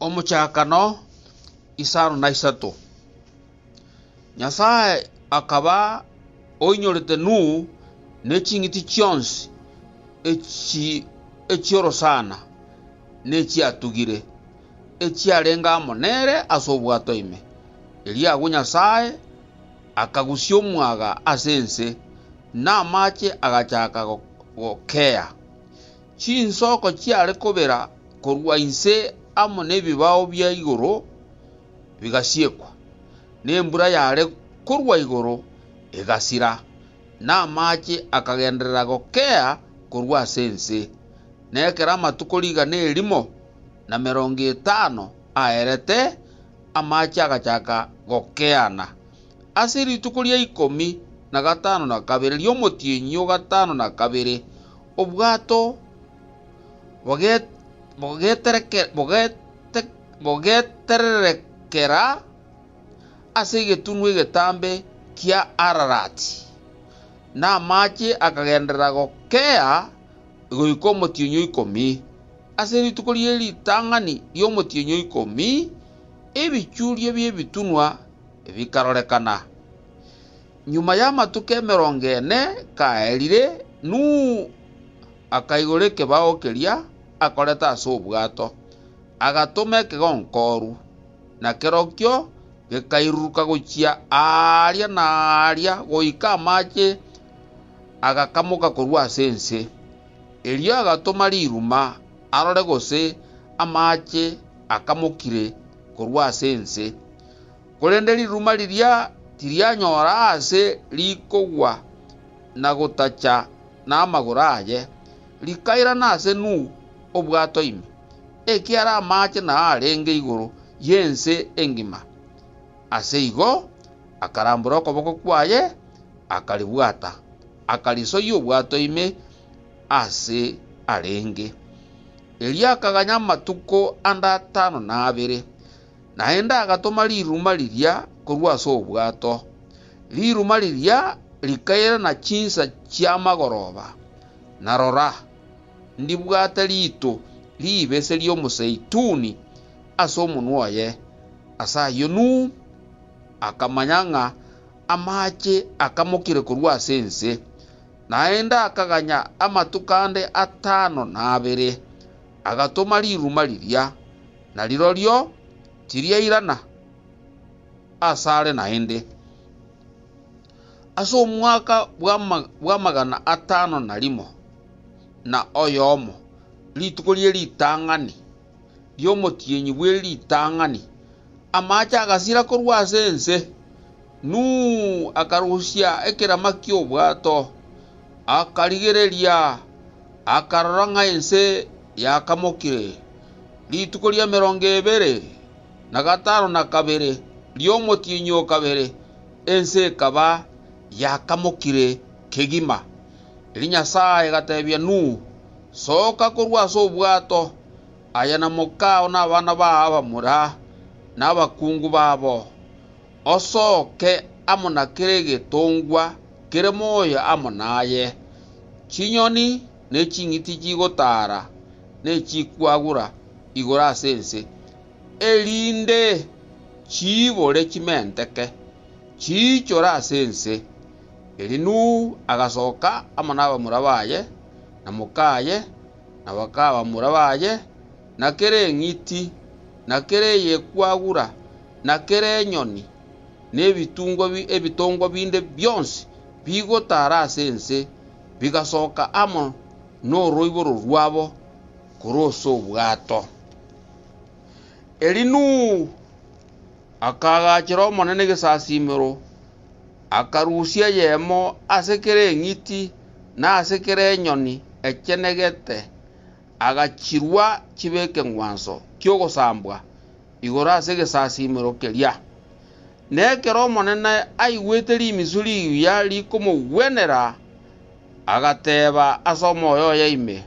Omochakano isano na isato. Nyasae akaba oinyorete Nuhu ne ching'iti chionsi echi echi'orosana nechiatugire, echiarenge amo nere ase obwato ime. Erio agwo Nyasae akagusia omwaga ase ense, na amache agachaka gokea. Chinsoko chiare kobera korwa inse amo nebibao bia igoro bigasiekwa, na embura yare korwa igoro egasira, na amaache akagenderera gokea korwa ase ense, na ekero amatuko rigana erimo na merongo etano aerete, amaache agachaka gokeana. Ase rituko ria ikomi na gatano na kabere ri'omotienyi o gatano na kabere, obwato bogetererekera ase egetunwa egetambe kia Ararati, na amache akagenderera gokea goika omotienyi o ikomi. Ase rituko rie ritang'ani ri'omotienyi o ikomi ebichuria bi'ebitunwa bikarorekana. Nyuma y'amatuko emerongo ene kaerire, Nuhu akaigora ekebao keria akorete ase obwato, agatoma ekegonko oru, na kerokio gekairuruka gochia aaria na aaria goika amache agakamoka korwa ase ense. Erio agatoma riruma arore gose amache akamokire korwa ase ense. Korende riruma riria tirianyora aase rikogwa na gotacha namagoro aye, rikairana ase Nuhu obwato ime, ekiara amaache nao arenge igoro y'ense engima. Ase igo akarambora okoboko kwaye, akaribwata, akarisoyia obwato ime aase arenge. Erio akaganya amatuko ande atano na abere, Naende agatoma riruma riria korwa ase obwato, riruma riria rikairana chinsa chi'amagoroba, na rora, ndibwate riito ribese ri'omozeituni ase omonwa oye. Ase ayio Nuhu akamanya ng'a amaache akamokire korwa ase ense, naende akaganya amatuko ande atano na abere, agatoma riruma riria. na rirorio tiriairana asare naende. Ase omwaka bw'amagana atano na rimo na oyomo, rituko rie ritang'ani ri'omotienyi bwe ritang'ani, amaache agasira korwa ase ense. Nuhu akarusia ekerama ki'obwato, akarigereria, akarora ng'a ense yakamokire. Rituko ri'emerongo ebere na gatano na kabere ri'omotienyi o kabere ense ekaba yakamokire kegima. Erio Nyasae agatebia Nuhu, Soka korwa ase obwato, aye na mokao na abana bao abamura, na abakungu babo. Osoke amo na kera egetongwa kere moyo amo naye, chinyoni ne ching'iti chigotaara ne chikwagura igoro ase ense, erinde chiibore chimenteke, chiichore ase ense. Erio Nuhu agasoka amo nabamura baye, na mokaye, na bakabamura baye, na kera eng'iti, na kera eyekwagura, na kera enyoni, na ebitungwa bi, ebitongwa binde bionsi bigotara ase ense, bigasoka amo noroiboro rwabo korwa ase obwato. Eri Nuhu akaagachera Omonene egesasiimero, akarusia eyemo ase kera eng'iti na ase kera enyoni echenegete, agachirua chibe ekeng'wanso ki'ogosambwa, igoro ase egesasiimero keria. Na ekero omonene aigwete rimisu riuya rikomogwenera, agateeba ase omoyo oye ime,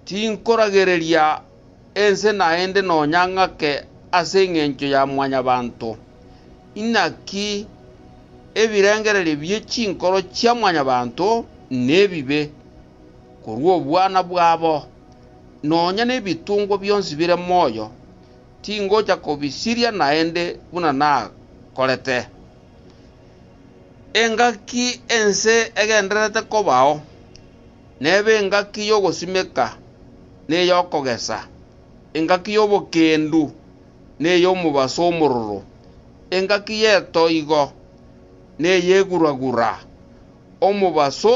Tinkoragereria ense naende nonya ng'ake ase engencho ya Mwanyabaanto. Inaki ebirengererio bie chinkoro chia Mwanyabaanto nebibe korwa obwana bwabo. nonya nebitungwa bionsi bire moyo tingocha kobisiria naende buna nakorete. Engaki ense egendererete kobao nebe engaki y'ogosimeka na ey'okogesa, engaki y'obokendu na ey'omobaso omororo, engaki y'etoigo na ey'eguragura, omobaso